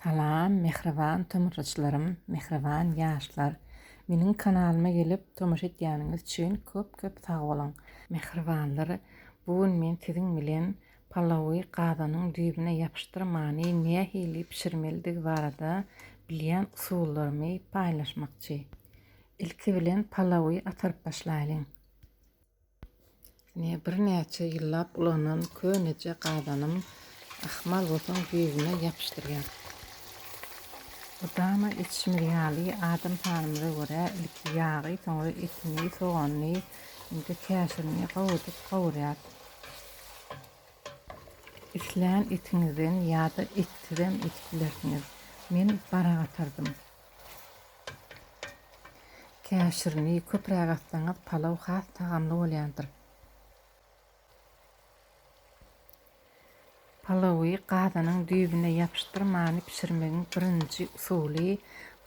Salam mähriban tomrçlarym mähriban ýaşlar meniň kanalyma gelip tomaşa etýäniňiz üçin köp köp sag boluň mähribanlar bu gün men siziň bilen palawy gazanyň düýbüne ýapyşdyrmany nähili bişirmelidigi barada bilýän usullarymy paýlaşmakçy ilki bilen palawy ataryp başlaýlyň. Ine, birnäçe ýyllap ulanan köneje gazanym ahmal bolsaň düýbüne ýapyşdyrýan. Mydama içmir ýaly, adam sanymyza görä ilki ýagy, soňra etini, soganyny, indi käşirini gowudyp gawurýas. Islän etiňizden ýa-da etsizem edip bilersiňiz. Men bara gatardym. Käşirini köpräk atsaňyz palaw has tagamly bolýandyr. Palawy gazanyň düýbüne ýapyşdyrmany bişirmegiň birinji usuly,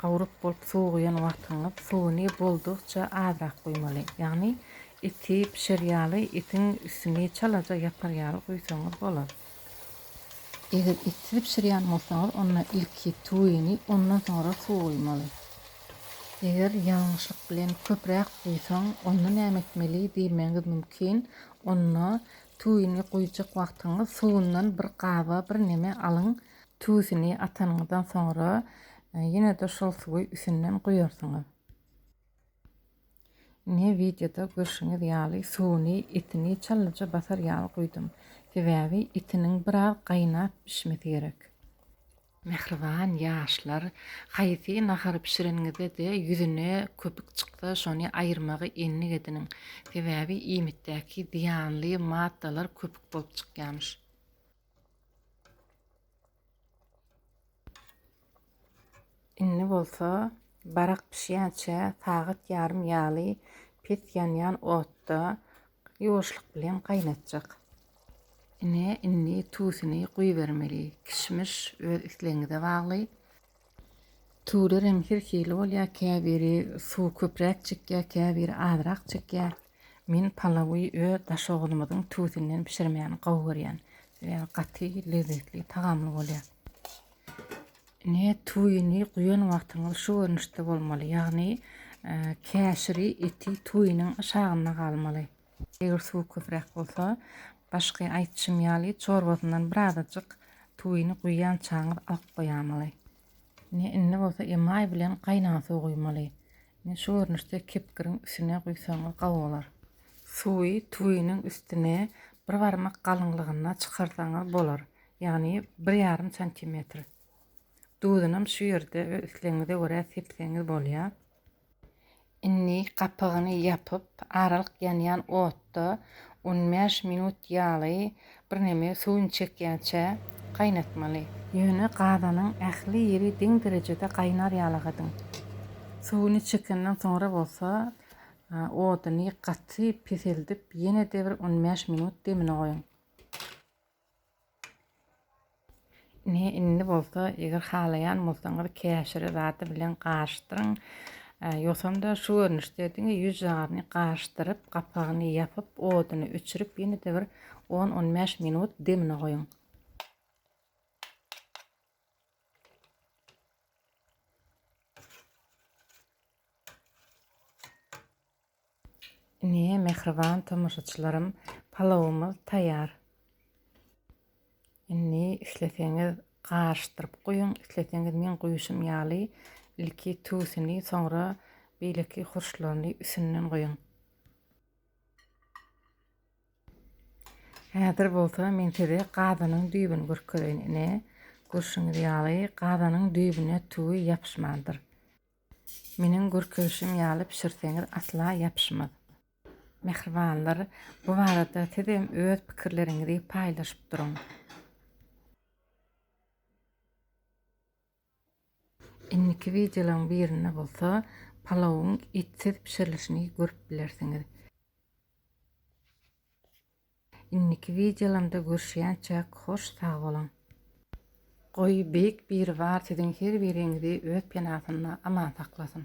gawryp bolup suwuguýan wagtyňyz suwuny boldugyça azrak guýmaly. Ýagny eti bişer ýaly etiň üstüni çalaja ýapar ýaly guýsaňyz bolar. Eger etli bişirýän bolsaňyz, onda ilki tuwyny, ondan soňra suw guýmaly. Eger ýalňyşlyk bilen köpräk guýsaň, onda näme etmeli diýmegiňiz mümkin. Onda tuwyny guýjak wagtyňyz suwundan bir gaba birneme alyň. Tuwyny atanyňyzdan soňra ýene-de şol suwy üstünden guýarsyňyz. Ine wideoda görşüňiz ýaly suwuny etini çalaja basar ýaly guýdum. Sebäbi etiniň biraz gaýnap bişmesi gerek. Mähriban ýaşlar haýsy nahary bişireniňizde-de ýüzüne köpük çyksa şony aýyrmagy endik ediniň. Sebäbi iýmitdäki zyýanly maddalar köpük bolup çykýarmyş. Indi bolsa barak bişýänçä sagat ýarym ýaly pes ýanýan otda ýuwaşlyk bilen gaýnatjak. Ine, indi tuzyny guýubermeli. Kişmiş öz islegiňize bagly. Tuly reň her hili bolýar, käbiri suwy köpräk çekýär, käbiri azrak çekýär. Men palawy öz daşoguzymyzyň tüwüsinden bişirmäni gowy görýän. Sebäbi gaty lezzetli, tagamly bolýar. Ine, tüwini guýan wagtyňyz şu görnüşde bolmaly. Ýagny, käşiri, eti tüwiniň aşagynda galmaly. Eger suwy köpräk bolsa, başky aýtşym ýaly çorbasyndan birazajyk tuwyny guýýançaňyz alyp goýamaly. Ine, indi bolsa emaý bilen gaýnan suw guýmaly. Ine, şu görnüşde kepgiriň üstüne guýsaňyz gowy bolar. Suwy tuwynyň üstüne bir barmak galyňlygynda çykarsaňyz bolar, ýagny bir ýarym santimetr. Duzunam şu ýerde öz islegiňize görä sepseňiz bolýar. Indi gapygyny ýapyp, aralyk ýanýan otda on bäş minut ýaly birneme suwuny çekýänçä gaýnatmaly. Ýöne gazanyň ähli ýeri deň derejede gaýnar ýalagydyň. Suwuny çekenden soňra bolsa oduny gaty peseldip ýene-de bir on bäş minut demine goýuň. Ine, indi bolsa, eger halaýan bolsaňyz, käşiri zady bilen garyşdyryň. Ýogsam-da, şu görnüşde diňe ýüz jagyny garyşdyryp, gapagyny ýapyp, oduny öçürip, ýene-de bir on-on bäş minut demine goýuň. Ine, mähriban tomaşaçylarym, palawymyz taýýar. Indi isleseňiz garyşdyryp guýuň, isleseňiz men guýuşym ýaly ilki tuzuny, soňra beýleki hurçlaryny üstünden guýuň. Häzir bolsa men size gazanyň düýbüni görkezeýin. Ine, görşüňiz ýaly, gazanyň düýbüne tüwi ýapyşmandyr. Meniň görkezişim ýaly bişirseňiz asla ýapyşmaz. Mähribanlar, bu barada siz hem öz pikirleriňizi paýlaşyp duruň. Indiki wideolaryň birinde bolsa palawyň etsiz bişirilişini görüp bilersiňiz. Indiki wideolarymda görüşýänçäk hoş sag boluň. Goý Beýik Biribar siziň her biriňizi öz penasynda aman saklasyn.